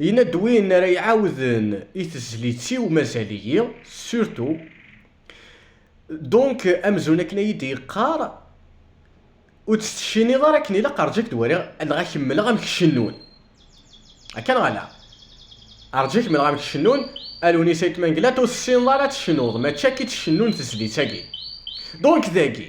Yenna-d win ara iɛawden i tezlit-iw mazal-iyi, surtout. Donc, amzun akken ay iyi-d-yeqqar, ur tt-tecciniḍ ara akken ilaq, rju ad k-d-waliɣ, neɣ ad k-mmleɣ amek cennun. Akka neɣ ala? Rju ad k-mmleɣ amek cennun, a Lewnis Ayt Mengellat, ur tessineḍ ara ad tecnuḍ, mačči akka i tt-cennun tezlit-agi. Donc, dagi.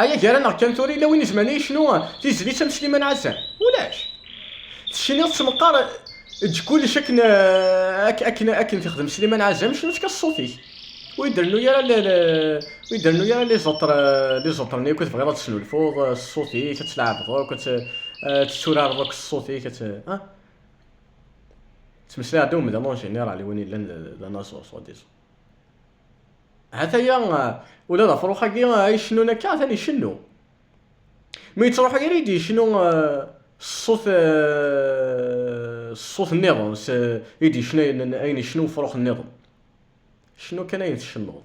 Aya gar-aneɣ kan tura yella win izemren ad yecnu tizlit am Sliman Ɛazam? Ulac. Tecniḍ s meqqar eǧǧ kullec akken akken akken tixdem Sliman Ɛazam, cnu-tt kan s ṣṣut-ik. Ur yi-d-rennu ara ur yi-d-rennu ara liẓeṭr liẓeṭren akk i tebɣiḍ ad tesnulfuḍ s ṣṣut-ik, ad tleɛbeḍ akk, ad tetturareḍ akk s ṣṣut-ik, ad ah. Ttmeslayeɣ-d i umdan en général i win yellan d anaẓur soi-disant. Hataya ula d afrux-agi ay icennun akka atan icennu. Mi yettruḥ irid yecnu s ṣṣut s ṣṣut nniḍen, s i d-yecna ayen yecna ufrux nniḍen. Cennu kan ayen tcennuḍ.